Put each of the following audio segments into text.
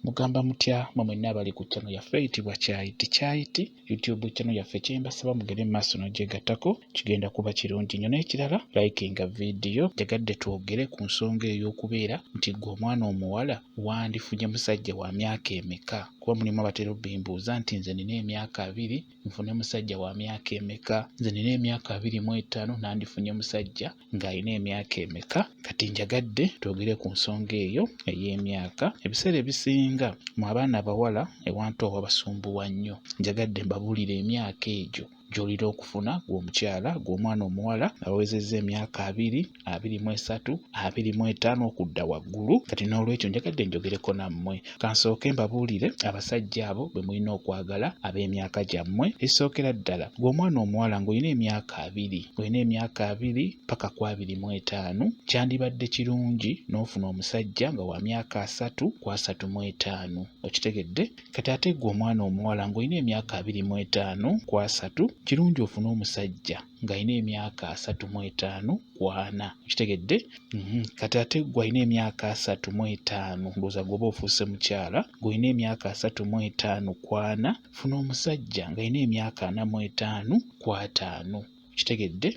Mugamba mutya mwe mwenna abali ku channel yaffe eyitibwa Kyayi ti Kyayi ti YouTube channel yaffe kyembasaba mugende mu maaso n'ogyegattako kigenda kuba kirungi nnyo n'ekirala likinga vidiyo njagadde twogere ku nsonga ey'okubeera nti ggwe omwana omuwala wandifunye musajja wa myaka emeka kuba mulimu abatera obbimbuuza nti nze nina emyaka abiri nfune musajja wa myaka emeka nze nina emyaka abiri mu etaano nandifunye musajja ng'alina emyaka emeka kati njagadde twogere ku nsonga eyo ey'emyaka ebiseera ebisinga mu abaana abawala ewantu awo abasumbuwa nnyo njagadde mbabuulire emyaka egyo gy'olina okufuna gw'omukyala gw'omwana omuwala awezezza emyaka abiri abiri mu esatu abiri mu etaano okudda waggulu kati n'olwekyo njagadde njogereko nammwe Kansooke mbabuulire abasajja abo bwe mulina okwagala ab'emyaka gyammwe. Ekisookera ddala, gwe omwana omuwala ng'olina emyaka abiri, olina emyaka abiri paka ku abiri mu etaano, kyandibadde kirungi n'ofuna omusajja nga wa myaka asatu ku asatu mu etaano. Okitegedde? Kati ate gwe omwana omuwala ng'olina emyaka abiri mu etaano ku asatu, kirungi ofune omusajja ng'alina emyaka asatu mu etaano ku ana okitegedde mhm. kati ate gwe alina emyaka asatu mu etaano ndowooza gwoba ofuuse mukyala gweolina emyaka asatu mu etaano ku ana funa omusajja ng'alina emyaka ana mu etaano ku ataano okitegedde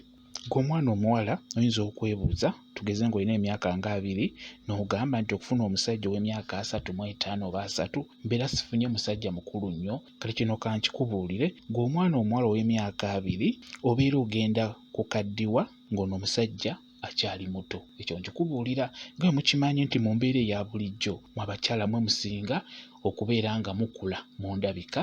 gwe omwana omuwala oyinza okwebuuza tugeze ng'olina emyaka nga abiri n'ogamba nti okufuna omusajja ow'emyaka asatu mu etaano oba asatu mbeera sifunye musajja mukulu nnyo kale kino kankikubuulire gwe omwana omuwala ow'emyaka abiri obeera ogenda ku kaddiwa ng'ono omusajja akyali muto ekyo nkikubuulira nga mukimanyi nti mu mbeera eya bulijjo mu abakyala mwe musinga okubeera nga mukula mu ndabika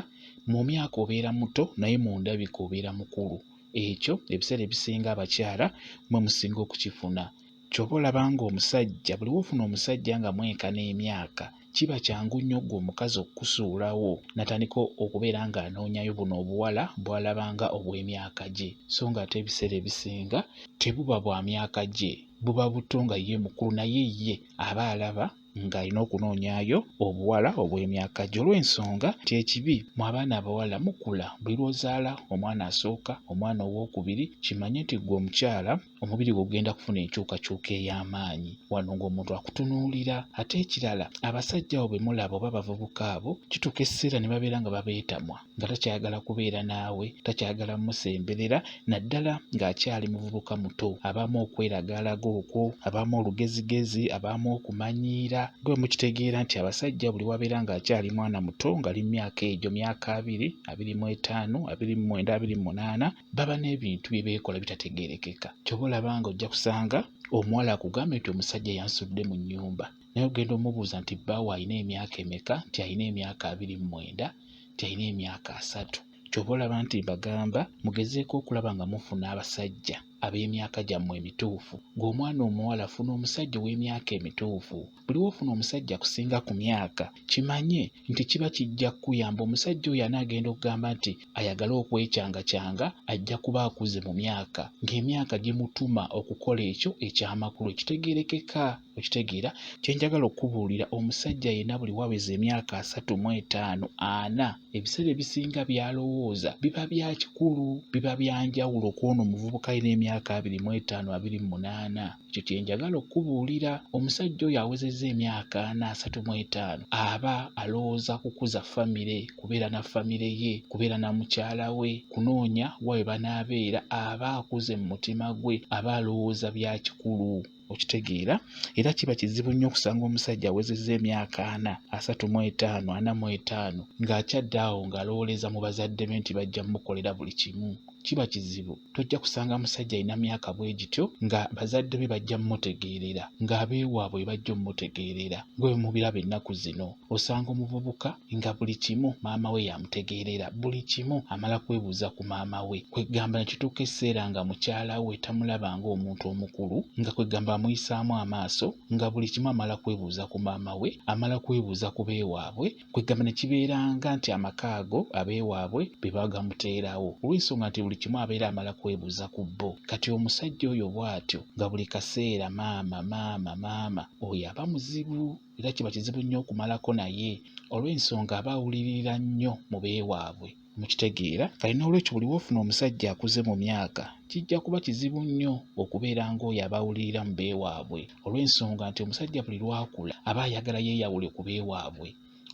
mu myaka obeera muto naye mu ndabika obeera mukulu ekyo ebiseera ebisinga abakyala mwe musinga okukifuna Ky'oba olaba ng'omusajja buli w'ofuna omusajja nga mwenkana emyaka kiba kyangu nnyo ggwe omukazi okukusuulawo n'atandika okubeera ng'anoonyayo buno obuwala bw'alaba nga obw'emyaka gye so ng'ate ebiseera ebisinga tebuba bwa myaka gye buba buto nga ye mukulu naye ye aba alaba ng'alina okunoonyayo obuwala obw'emyaka gye olw'ensonga nti ekibi mu abaana abawala mukula buli lw'ozaala omwana asooka omwana owookubiri kimanye nti ggwe omukyala omubiri gwe gugenda kufuna enkyukakyuka ey'amaanyi wano ng'omuntu akutunuulira ate ekirala abasajja abo bemulaba oba abavubuka abo kituuka ekiseera ne babeera nga babeetamwa nga takyayagala kubeera naawe takyayagala musemberera naddala ng'akyali muvubuka muto abaamu okweragaalaga okwo abaamu olugezigezi abaamu okumanyiira nga bwe mukitegeera nti abasajja buli wabeera ng'akyali mwana muto ngali mu myaka egyo myaka abiri abiri mu etaano abiri mu mwenda abiri mu munaana baba n'ebintu bye beekola bitategeerekeka ky'oba olaba nga ojja kusanga omuwala akugambye nti omusajja yansudde mu nnyumba naye ogenda omubuuza nti bbaawo alina emyaka emeka nti alina emyaka abiri mu mwenda nti alina emyaka asatu ky'oba olaba nti mbagamba mugezeeko okulaba nga mufuna abasajja ab'emyaka gyammwe emituufu ng'omwana omuwala funa omusajja ow'emyaka emituufu buli wofuna omusajja kusinga ku myaka kimanye nti kiba kijja kukuyamba omusajja oyo anaagenda okugamba nti ayagala okwecangakyanga ajja kuba akuze mu myaka ng'emyaka gimutuma okukola ekyo ekyamakulu ekitegeerekeka okitegeera kye njagala okukubuulira omusajja yenna buli waweza emyaka asatu mu etaano ana ebiseera ebisinga by'alowooza biba bya kikulu biba bya njawulo ku ono omuvubuka alina emyaka abiri mu etaano abiri mu munaana Ekyo kye njagala okukubuulira. Omusajja oyo awezezza emyaka ana asatu mu etaano aba alowooza kukuza famire, kubeera na famire ye, kubeera na mukyala we, kunoonya wa we banaabeera. Aba akuze mu mutima gwe, aba alowooza bya kikulu. Okitegeera? Era kiba kizibu nnyo okusanga omusajja awezezza emyaka ana, asatu mu etaano, ana mu etaano, ng'akyadde awo ng'alowooleza mu bazadde be nti bajja mukolera buli kimu. Kiba kizibu. tojja kusanga musajja alina myaka bwe gityo nga bazadde be bajja mumutegeerera ng'abeewaabwe bajja omumutegeerera gwe mubiraba ennaku zino osanga omuvubuka nga buli kimu maama we yamutegeerera buli kimu amala kwebuuza ku maama we kwegamba ne kituuka ekiseera nga mukyala we tamulaba ng'omuntu omukulu nga kwegamba amuyisaamu amaaso nga buli kimu amala kwebuuza ku maama we amala kwebuuza ku beewaabwe Kwegamba ne kibeeranga nti amaka ago abeewaabwe be bagamuteerawo olw'ensonga nti buli kimu abeera amala kwebuuza ku bo. Kati omusajja oyo bw'atyo nga buli kaseera maama maama maama oyo aba muzibu era kiba kizibu nnyo okumalako naye olw'ensonga aba awuliririra nnyo mu beewaabwe. Mukitegeera? Kale n'olwekyo buli w'ofuna omusajja akuze mu myaka, kijja kuba kizibu nnyo okubeera ng'oyo aba awulirira mu beewaabwe, olw'ensonga nti omusajja buli lw'akula aba ayagala yeeyawule ku beewaabwe.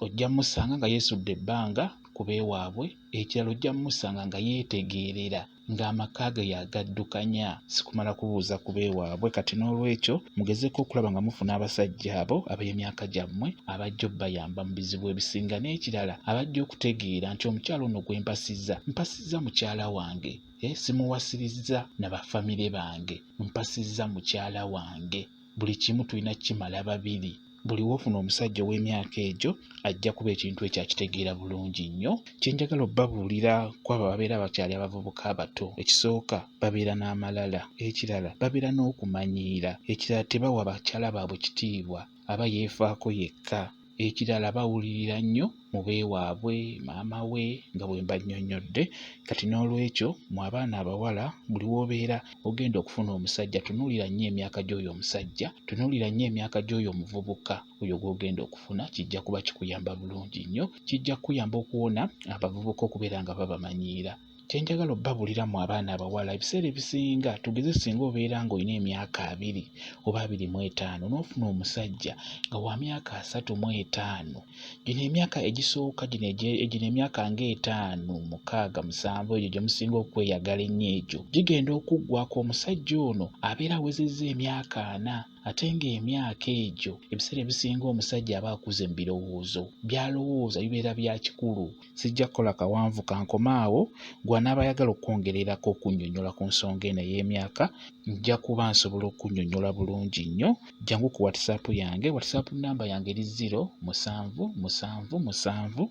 Ojja musanga nga yeesudde ebbanga ku beewaabwe, ekirala ojja musanga nga yeetegeerera. ng'amaka ge y'agaddukanya si kumala kubuuza ku b'ewaabwe kati noolwekyo mugezeeko okulaba nga mufuna abasajja abo ab'emyaka gyammwe abajja obbayamba mu bizibu ebisinga n'ekirala abajja okutegeera nti omukyala ono gwe mpasizza mpasizza mukyala wange eh, simuwasirizza na bafamire bange mpasizza mukyala wange buli kimu tulina kukimala babiri. Buli w'ofuna omusajja ow'emyaka egyo ajja kuba ekintu ekyo akitegeera bulungi nnyo. Kye njagala obabuulira ku abo ababeera bakyali abavubuka abato, ekisooka babeera n'amalala, ekirala babeera n'okumanyiira, ekirala tebawa bakyala baabwe kitiibwa, aba yeefaako yekka. Ekirala bawulirira nnyo mu beewaabwe, maama we nga bwe mbannyonnyodde. Kati n'olwekyo mu abaana abawala buli w'obeera ogenda okufuna omusajja tunuulira nnyo emyaka gy'oyo omusajja, tunuulira nnyo emyaka gy'oyo omuvubuka oyo gw'ogenda okufuna kijja kuba kikuyamba bulungi nnyo. Kijja kukuyamba okuwona abavubuka okubeera nga babamanyiira. kyenjagala obbabulira mu abaana abawala ebiseera ebisinga tugeze singa obeera nga olina emyaka abiri oba abiri mu etaano n'ofuna omusajja nga wa myaka asatu mu etaano gino emyaka egisooka gino egino emyaka ng'etaano mukaaga musanvu egyo gye musinga okweyagala ennyo egyo gigenda okuggwako omusajja ono abeera awezezza emyaka ana Ate ng'emyaka egyo ebiseera ebisinga omusajja aba akuze mu birowoozo, by'alowooza bibeera bya kikulu. Sijja kukola kawanvu ka nkome awo, gw'anaaba ayagala okwongererako okunnyonnyola ku nsonga eno ey'emyaka nja kuba nsobola okunnyonnyola bulungi nnyo. Jjangu ku WhatsApp yange, WhatsApp nnamba yange eri ziro musanvu musanvu musanvu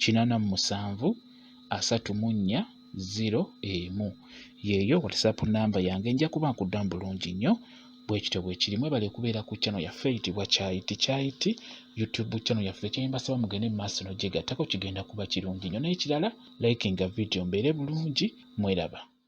kinaana mu musanvu asatu mu nnya. ziro emu yeeyo whatsapp namba yange nja kuba nkuddamu bulungi nnyo bwekityo bwekiri mwebale kubeera ku channel yaffe eyitibwa kyayiti kyayiti youtube channel yaffe kyembasaba mugende mu maaso nogyegattako kigenda kuba kirungi nnyo n'ekirala likinga video mbeere bulungi mweraba